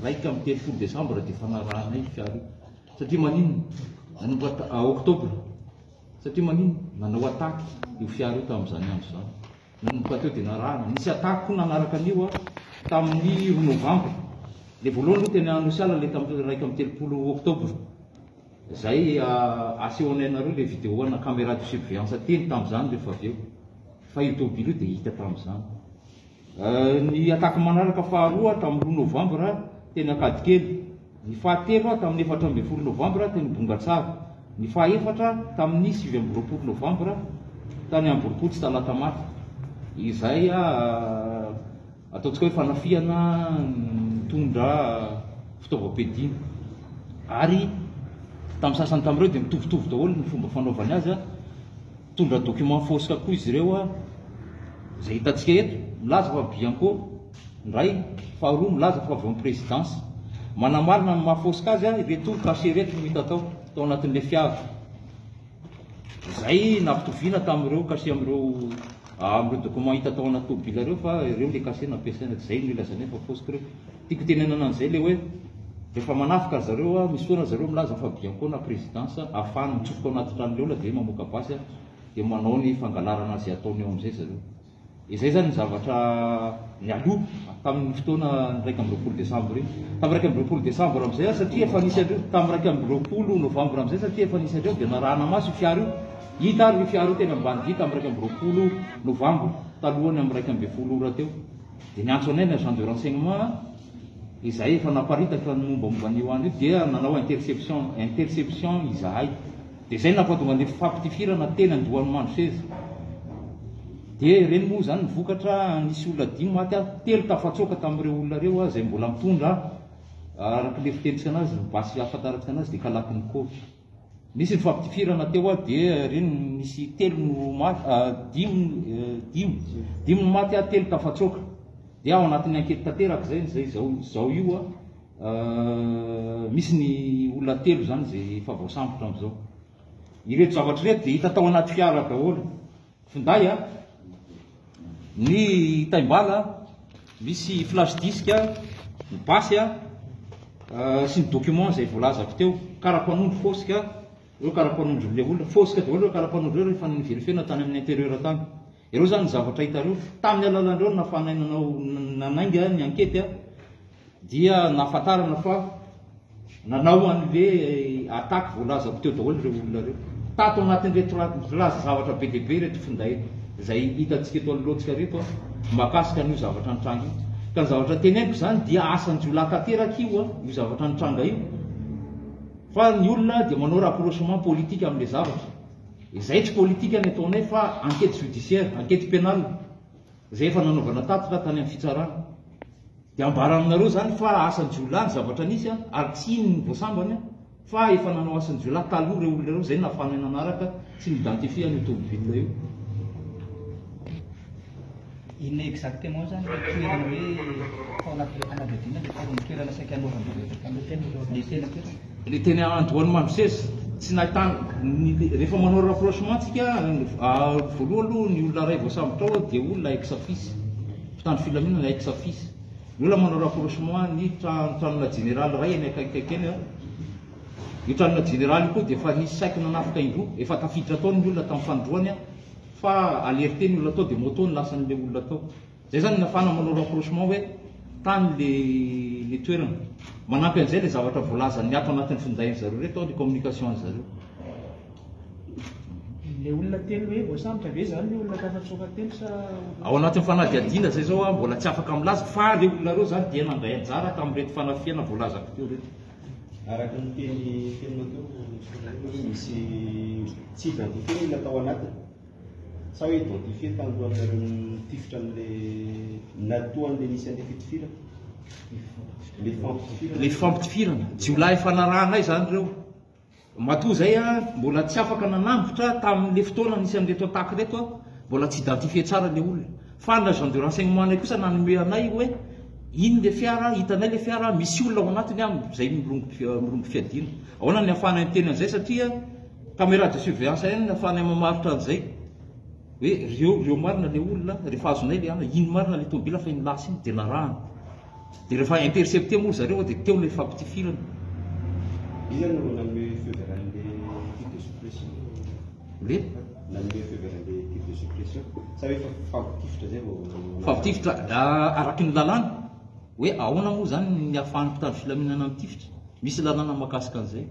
iraika amby telopolo desambra dia fanarahanay io fiara io satria maninona nanomboka ah, oktobra satria maninona nanao ataky io fiara io tamin'izany andro izany nanomboka teo dia narahana nisy ataky koa nanaraka an'io a ah, tamin'ny roa novambra le voalohany aloha teny anosiala le tamin'ny iraika amby telopolo oktobra zay ah, asehonay anareo le vidéo ana caméra de surveillance teny tamin'izany rehefa avy eo fa io tobily io dia hita tamin'izany Ny attaque manaraka faharoa tamin'ny roa novambra teny Ankadikely. Ny fahatelo a tamin'ny efatra ambin'ny folo novambra teny Bongatsara. Ny fahefatra tamin'ny sivy amby roapolo novambra tany Amborompotsy Talatamaty. Izay ataontsika hoe fanafihana nitondra fitaovam-piadiana. Ary tamin'ny sasany tamin'ireo dia mitovitovy daholo ny fomba fanaovany azy. Nitondra documents fausse koa izy ireo izay hitantsika eto, milaza fa Bianco ny iray, faharoa milaza fa avy ao amin'ny présidence. Manamarina ny maha fausse azy ireto cachets ireto no hita tao, tao anatin'ilay fiara. Izay nampitoviana tamin'ireo cachets amin'ireo amin'ireo documents hita tao anaty tômôbila ireo fa ireo ilay cachets nampiasaina, izay no ilazanay fa fausse koa ireo. Tiako tenenana an'izay ilay hoe rehefa manafika ry zareo aho, misy fotoana ry zareo milaza fa Biankona présidence ahafahany mitsofoka ao anaty tranon'ny olona dia mamoaka basy an, dia manao ny fangalarana izay ataony ao amin'izay ry zareo. Izay izany ny zavatra nialoha tamin'ny fotoana ny iraika amby roapolo desambra iny. Tamin'ny iraika amby roapolo desambra amin'izay aho satria efa nisy an'ireo, tamin'ny iraika amby roapolo novambra amin'izay satria efa nisy an'ireo dia narahana maso io fiara io. Hita ary io fiara io teny Ambanidia tamin'ny iraika amby roapolo novambra, talohan'ny amin'ny iraika ambin'ny folo ora teo. Dia ny antso anay ny agent de renseignement izay efa naparitaka ny mombamomba an'io andro io dia nanao interception interception izahay dia izay napatonga ny faptifirana teny andohan'i Mandroseza dia ireny moa izany ny vokatra nisy olona dimy maty ary telo tafatsoaka tamin'ireo olona ireo ah, izay mbola mitondra ah, araka ilay fitenitsika anazy ny basy ahafantarako anazy dia kalakin'i Koto. Nisy ny fampitifirana teo aho dia re no nisy telo no maty, ah, dimy, eh, dimy, dimy no maty ah, telo tafatsoaka. Dia ao anatin'ny ankety tanteraka izay, izay izao, izao io ah, ah, misy ny olona telo izany izay efa voasambotra amin'izao. Ireto zavatra ireto dia hita tao anaty fiara daholo. finday a, ny taim-bala misy flash disk a, ny basy a, sy ny document izay voalazako teo, kara-panondro fosque, ireo kara-panondron'ilay olona, fosque daholo ireo kara-panondro ireo rehefa ni-verifier-na tany amin'ny intérieur tany. Ireo izany ny zavatra hitanareo, tamin'ny alalan'ireo no nafanainanao nanainga ny ankety a, Dia nahafantarana fa nanao an'ilay attaque voalazako teo daholo ireo olona ireo. Tato anatin'ireto laza zavatra be dia be ireto finday izay hitantsika eto anoloantsika ireto an, mahakasika an'io zavatra nitranga io. Ka ny zavatra teneniko izany dia asan-jiolahy tanteraka io an, io zavatra nitranga io. Fa ny olona dia manao rapprochement politique amin'ilay zavatra. Izay tsy politika ny ataonay fa enquête judiciaire, enquête pénale. Rehefa nanaovana tatitra tany amin'ny fitsarana, dia ambara aminareo izany fa asan'ny jiolahy ny zavatra nisy an, ary tsy iny no voasambany an, fa efa nanao asan'ny jiolahy taloha ireo olona ireo, izay no nahafahanay nanaraka sy ni-identifier an'io tomobilina io. Inona exactement izany ilay toerana hoe tao anatin'ilay fanadihadiana dia tao amin'ny toerana saika anaovan'ireo rehetra taloha teny ilay teny an-toerana? Le teny andohany Mamosesy tsy nahitana ny rehefa manao rapprochement tsika voaloha aloha ny olona ray voasambotra ao dia olona ex office mpitandro filaminana ex office ny olona manao rapprochement ny tranona jeneraly ray any akaikikaiky any io tranona jeneraly io koa dia efa nisy saiky nanafika indroa efa tafiditra tao ny olona tamin'ny fanindroany fa alerte ny olona tao dia moto no lasan'ilay olona tao Zay zany nafana manao rapprochement hoe tany le le toerana. Manampy an'izay le zavatra voalazan'ny ato anatin'ny findain-dry zareo reto ny communication-dry zareo. Ilay olona telo hoe voasambotra ve izany ny olona tafatsoaka telo sa Ao anatin'ny fanadihadiana zay zao aho mbola tsy afaka milaza fa le olona reo zany dia nandray anjara tamin'ireto fanafihana voalazako teo reto. Araka ny teny teninao teo, misy tsy identifier ny olona tao anatiny. Sa hoe identifier talohan'ny nareo nitifitra an'ilay natoan'ilay nisy an'ilay fitifirana? Ilay fampitifirana? Ilay fampitifirana. Jiolahy efa narahanay izany ireo. Matoa izay aho mbola tsy afaka nanavotra tamin'ilay fotoana nisy an'ireto attaque ireto aho. Mbola tsy identifier tsara ilay olona. Fa ny agent de renseignement anay kosa nanome anay hoe iny ilay fiara, hitanay ilay fiara, misy olona ao anatiny an, izay mirongo mirongo fiadiana. Ahoana ny ahafahanay miteny an'izay satria Caméra de surveillance ihany no afahanay mamarotra an'izay hoe reo reo marina le olona rehefa azonay le ana iny marina le tomobila fa iny lasa iny dia narahana dia rehefa intercepter moa ry zareo dia teo ilay fampitifirana Iza no nanome feu vert an'le titre de suppression? Le? Nanome feu vert an'le titre de suppression sa hoe efa fampitifitra zay vao nanao Fampitifitra ah, araky ny lalàna hoe ahoana moa zany ny afahan'ny mpitandro filaminana mitifitra? Misy lalàna mahakasika an'izay.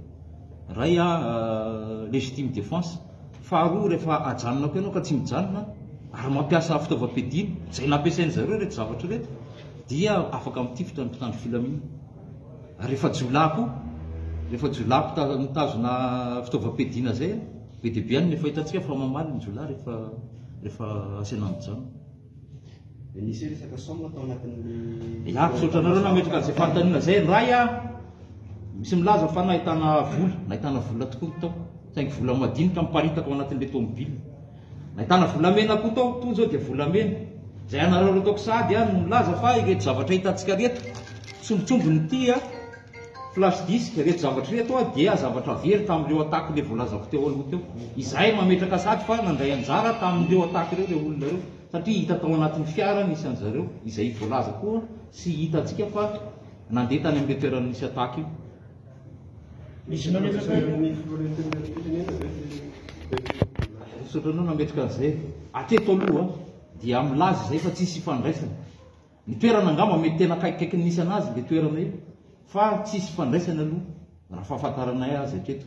Ray a legitime defense, faharoa rehefa ajanona koa ianao ka tsy mijanona ary mampiasa fitaovam-piadiana izay nampiasain-dry zareo ireto zavatra ireto dia afaka mitifitra ny mpitandro filaminana. Ary rehefa jiolahy koa, rehefa jiolahy mpita- mitazona fitaovam-piadiana izay, be dia be any no efa hitantsika fa mamaly ny jiolahy rehefa rehefa asaina mijanona. Izaho misaotra anareo nametraka an'izay fanontaniana izay Ray a! Misy milaza fa nahitana vola, nahitana vola tokoa ny tao, saingy vola madinika miparitaka ao anatin'ilay tômôbila. Nahitana volamena koa tao, toa izao dia volamena. Izay anareo ataoko sahady a no milaza fa ireto zavatra hitantsika ireto, sombintsombiny ity a! Flash disk, reto zavatra ireto dia zavatra very tamin'ireo attaque le voalazako teo aloha teo. Izahay mametraka sady fa nandray anjara tamin'ireo attaque ireo ireo olona ireo satria hita tao anatin'ny fiara nisy an'i zareo izay voalaza koa sy hitantsika fa nandeha tany amin'io toerana nisy attaque io. Misy mametraka ny filohan'antenimierampirenena ve teto? Misaotra anao nametraka an'izay. Hatreto aloha dia milaza izay fa tsisy ifandraisany. Ny toerana angamba mety tena akaikikaiky ny nisy anazy le toerana io fa tsisy ifandraisany aloha raha fahafantaranay azy hatreto.